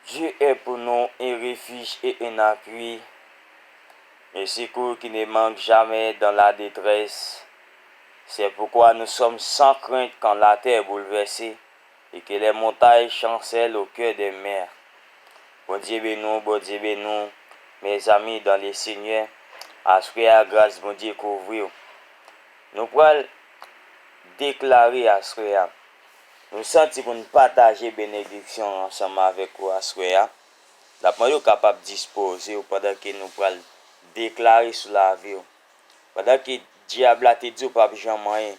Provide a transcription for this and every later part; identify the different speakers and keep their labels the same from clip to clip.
Speaker 1: Dieu est pour nous un refuge et un appui, le secours qui ne manque jamais dans la détresse, c'est pourquoi nous sommes sans crainte quand la terre est bouleversée et que les montagnes chancèlent au cœur des mers. Bondye beni w Bondye beni w mèzami dan le senyè aswè a gras Bondye kouvri w nou pral deklare aswè a. Nou santi pou n pataje benediksyon an ansanm avèk ou aswè a. N ap mande w kapab dispoze w pandan ke nou pral deklare sou lavi w. Pandan ke dyab la te di w pap janm anyen.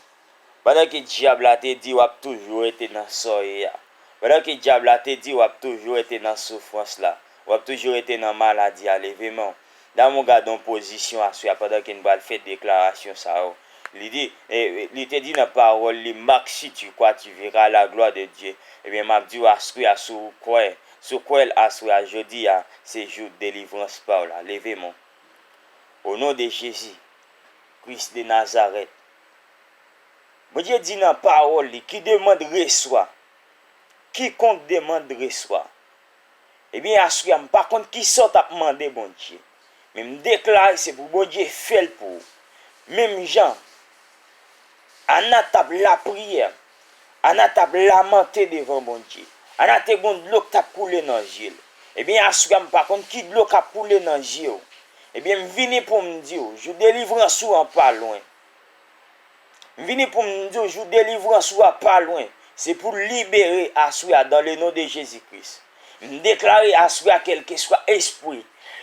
Speaker 1: Pandan ke dyab la te di w ap toujou rete nan sa w ye a. Pandan ke dyab la te di w ap toujou rete nan soufrans la, w ap toujou rete nan maladi a, leve men w. Damou gadon pozisyon aswè a pandan ke n pral fè deklarasyon sa yo. Li di, e, li te di nan pawòl li, Marc si tu crois tu verras la gloire de Dieu. Ebyen m ap di w aswè a si w kwè, si w kwè l aswè a, jodi a, se jou delivrans pa w la. Leve men w. O non de Jezi Kris de Nazarèt. Bondye di nan pawòl li, ki demand reswa. Kikonk demand reswa. Ebyen aswea m pa konn kisa w tap mande Bondye men m deklare se pou Bondye fel pou ou menm jan Anna tap lapriyè Anna tap lamante devan Bondye Anna te gon dlo k tap koule nan zye l ebyen aswea m pa konn ki dlo kap koule nan zye w ebyen m vini pou m di w jou delivrans ou an pa lwen M vini poum di w jou delivrans ou a pa lwen se pou w libere aswè a dan le non de Jezi Kris m deklare aswè a kelkeswa espwi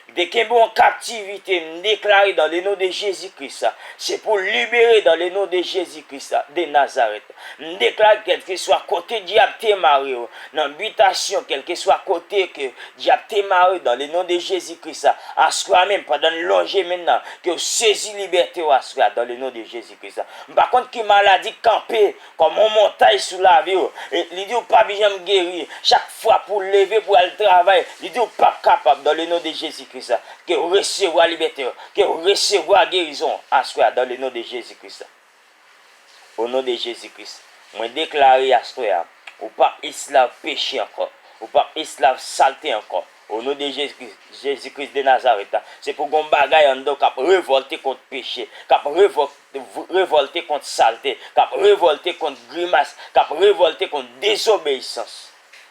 Speaker 1: ki te kenbe w an kaptivite m deklare dan le non de Jezi Kris se pou w libere dan le non de Jezi Kris de Nazarèt. M deklare kèlkeswa kote dyab te mare w nan bitasyon kèlkeswa kote ke dyab te mare dan le non de Jezi Kris a aswè menm pandan n lonje men nan ke w sezi libète w aswè a dan le non de Jezi Kris a m pa konn ki maladi k kanpe kòm yon montay sou lavi w e li di w pa p janm geri chak fwa pou w leve pou w al travay li di w pap kapab dan le non de Jezi Kris a ke w resevwa libète w ke w resevwa gerizon w aswè a dan le non de Jezi Kris a. O non de Jezi Kris, mwen deklare aswè a, ou pap esklav peche ankò, ou pap esklav salte ankò. O non de Jezi Kris, Jezi Kris de Nazarèt la, se pou gon bagay anndan w kap revòlte kont peche, kap revòlte kont salte, kap revòlte kont grimas, kap revòlte kont dezobeyisans.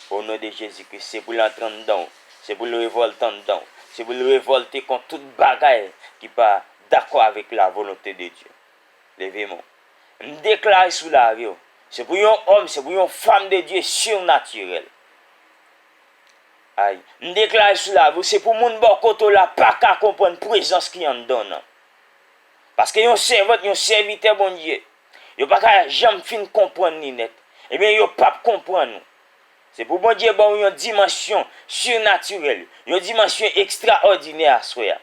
Speaker 1: O non de Jezi Kris, se pou l antre anndan w, se pou l revòlte anndan w, se pou l revòlte kont tout bagay ki pa dakò avèk lavolonte de Dye. Leve men w. M deklare sou lavi w. Se pou yon òm, se pou yon fanm de Dye sirnatirèl. Ay. M deklare sou lavi w, se pou moun bò kote w la pa ka konprann prezans ki anndan w nan. Paske yon sèvant, yon sèvitè Bondye, yo pa ka janm fin konprann li nèt. Ebyen, yo p ap konprann ou. Se pou Bondye ba w yon dimansyon sirnatirèl, yon dimansyon ekstraòdinè aswè a.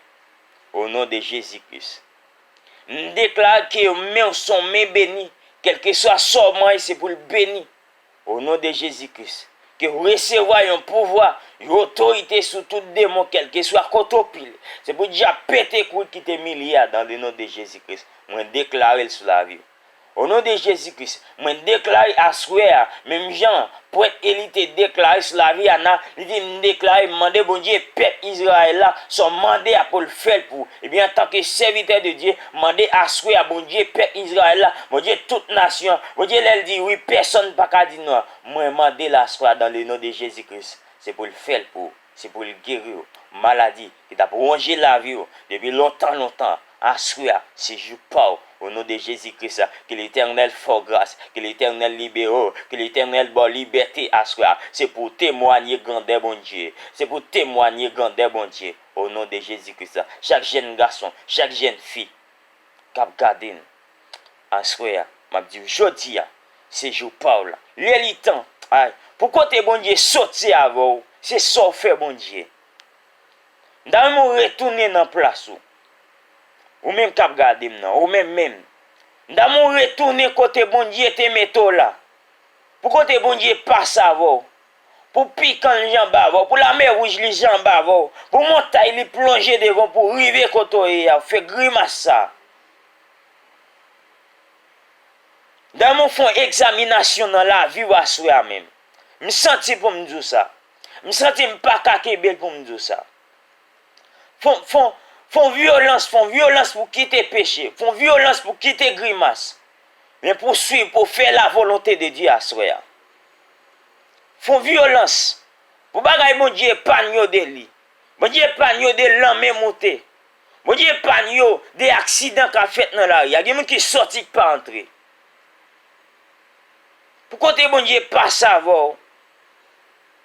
Speaker 1: O non de Jezi Kris. M deklare ke yon menw son men beni kelkeswa Saw manye se poul beni o non de Jezi Kris kew resevwa yon pouvwa yon otorite sou tout demon kelkeswa kote w pile se pou dyab pete kouri kite milye a dan le non de Jezi Kris mwen deklarel sou laviw. O non de Jezi Kris, mwen deklare aswè a, menm jan Prèt Eli te deklare sou lavi Ana, li di, M deklare, m mande Bondye pèp Izrayèl la sa w mande a pou l fè l pou ou. Ebyen, antanke sèvitè de Dye, m mande aswè a, Bondye pèp Izrayèl la, Bondye tout nasyon an, Bondye lè l di wi, pèsonn pa ka di non an, mwen mande l aswè a dan le non de Jezi Kris, se pou l fè l pou ou. Se pou l geri w maladi ki t ap wonje lavi w depi lontan lontan aswè a se jou pa w o non de Jezi Kris ke letènèl fè w gras ke letènèl libere w ke letènèl ba w libète aswè a se pou w temwanye grandè Bondye se pou w temwanye grandè Bondye o non de Jezi Kris chak jèn gason chak jèn fi k ap gade m. Aswè a, m ap di w, jodi a, se jou pa w la. Lè li tan, ay, pou kote Bondye sot se avè w, se sa w fè Bondye. M ta renmen w retounen nan plas ou. Ou menm k ap gade m nan, ou menm menm. M ta renmen w retounen kote Bondye te mete w la. Pou kote Bondye pase avè w. Pou pikan li janbe avè w, pou lamè wouj li janbe avè w, pou montay li plonje devan w pou w rive kote w ye a, fè grimas sa a. Damou fon egzaminasyon nan lavi w aswè a menm. M santi pou m di w sa. M santi m pa ka kenbe l pou m di w sa. Fon vyolans, fon vyolans pou kite peche, fon vyolans pou kite grimas, men pou swiv, pou fè lavolonte de Dye aswè a. Fon vyolans pou bagay Bondye epann yo de li. Bondye epann yo de lanme moute. Bon Dye epann yo de aksidan kap fèt nan lari a gen moun ki sòti ki pa antre pou kote Bon Dye pa savòw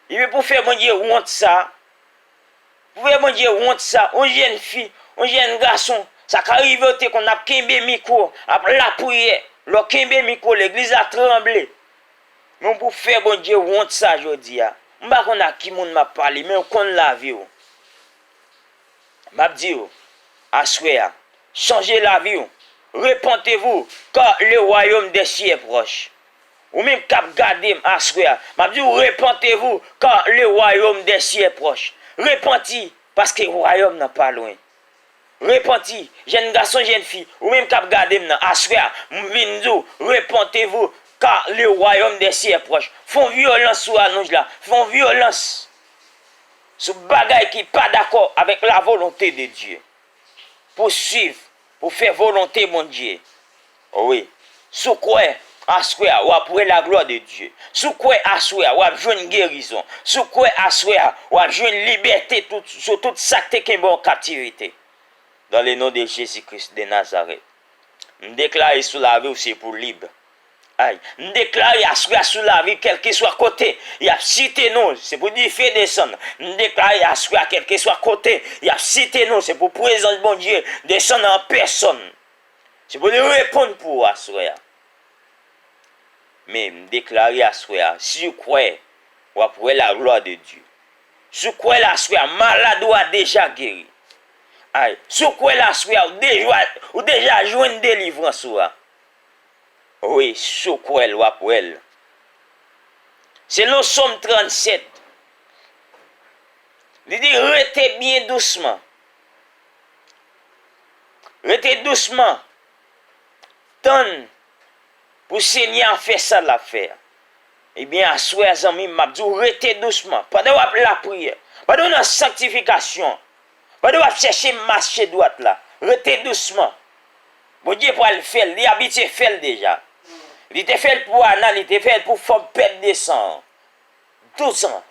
Speaker 1: ebyen pou fè Bon Dye wont sa pou fè Bon Dye wont sa yon jèn fi yon jèn gason sa ka rivew te konn ap kenbe mikwo ap lapriyè lèw kenbe mikwo legliz la tranble men pou fè Bon Dye wont sa jodi a m pa konn a ki moun map pale men ou konn laviw. Map diw aswè a chanje laviw repantevou car le royaume des cieux est proche ou menm kap gadem aswè a map diw repantevou car le royaume des cieux est proche repanti paske wayòm nan pa lwen repanti jèn gason jèn fi ou menm kap gadem nan aswè a m vin diw repantevou car le royaume des cieux est proche fon vyolans sou rallonj la fon vyolans. Sou bagay ki pa dakò avèk lavolonte de Dye. Pou swiv, pou fè volonte Bondye. Wi. Si w kwè, aswè a, w ap wè laglwa de Dye. Si w kwè, aswè a, w ap jwenn gerizon. Si w kwè, aswè a, w ap jwenn libète sou tout sa k te kenbe w an kaptivite. Dan le non de Jezi Kris de Nazarèt. M deklare sou lavi w se pou lib. Ay, m deklare aswè sou lavi kèlkeswa kote y ap site nou, se pou dife desann. M deklare aswè kèlkeswa kote y ap site nou, se pou prezans Bondye desann an pèsòn. Se pou li reponn pou ou aswè a. Men, m deklare aswè a, si ou kwè, w ap wè laglwa de Dye. Si ou kwè l aswè a, malad ou a deja geri. Ay, si ou kwè l aswè a, ou deja jwenn delivrans ou a. Wi si w kwè l w ap wè l. Selon Som 37, li di, Rete byen dousman. Rete dousman, tann pou Senyè a fè sa l ap fè a. Ebyen aswè a zanmi m, m ap di w rete dousman. Pandan w ap lapriyè, pandan w nan sanktifikasyon. Pandan wap chèche mache dwat la, rete dousman. Bondye pral fèl, li abitye fèl deja. Li te fèl pou Ana, li te fèl pou fanm pèd 200 an. 12 ans.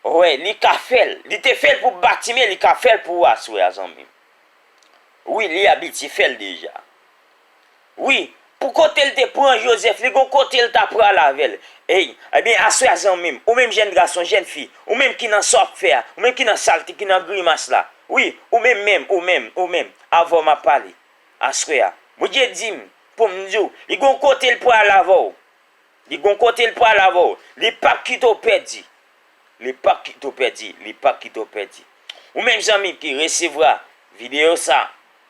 Speaker 1: Wè, li ka fèl. Li te fèl pou Batime, li ka fèl pou ou aswè a zanmim. Wi, li abitye fèl deja. Wi, pou kote l te pran Jozèf, li gon kote l ta prale avè l. Ey, ebyen aswè a zanmi m, ou menm jèn gason, jèn fi, ou menm ki nan sa w ap fè a, ou menm ki nan salte, ki nan grimas la, wi, ou menm menm, ou menm, ou menm, avè w m ap pale, aswè a, Bondye di m pou m di w, li gon kote l prale avè w. Li gon kote l prale avè w. Li p ap kite w pèdi. Li p ap kite w pèdi. Li p ap kite w pèdi. Ou menm zanmi ki resevra videyo sa a.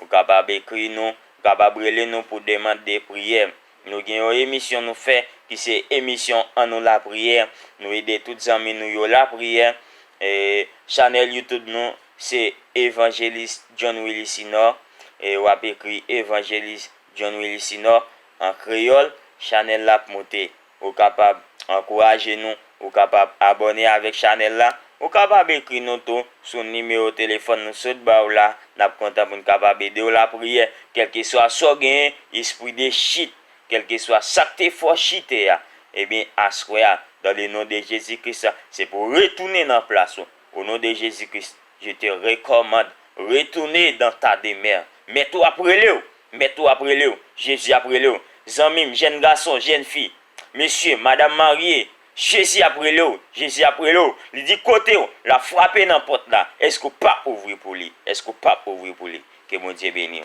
Speaker 1: Ou kapab ekri nou, ou kapab rele nou pou demand de priyè. Nou gen yon emisyon nou fè ki se emisyon An nou lapriyè, nou ede tout zanmi nou yo lapriyè. Chanèl YouTube nou se Evanjelis John Willy Sinor, w ap ekri Evanjelis John Willy Sinor an kreyòl, chanèl la ap moute. Ou kapab ankouraje nou, ou kapab abòne avèk chanèl la, ou kapab ekri nou tou sou nimewo telefòn nou sot ba w la, n ap kontan pou n kapab ede w lapriyè, kèlkeswa sa w genyen, espri de chit, kèlkeswa sa k te fè w chite a, ebyen aswè a, dan le non de Jezi Kris, se pou w retounen nan plas ou, O non de Jezi Kris je te rekòmand retoune dan ta demèr mèt ou ap relew mèt ou ap relew Jezi ap relew zanmim jèn gason jèn fi mesye madam marye Jezi ap relew Jezi ap relew li di kotew lap frape nan pòt la èske ou pap ouvri pou li èske ou pap ouvri pou li ke Bondye beniw.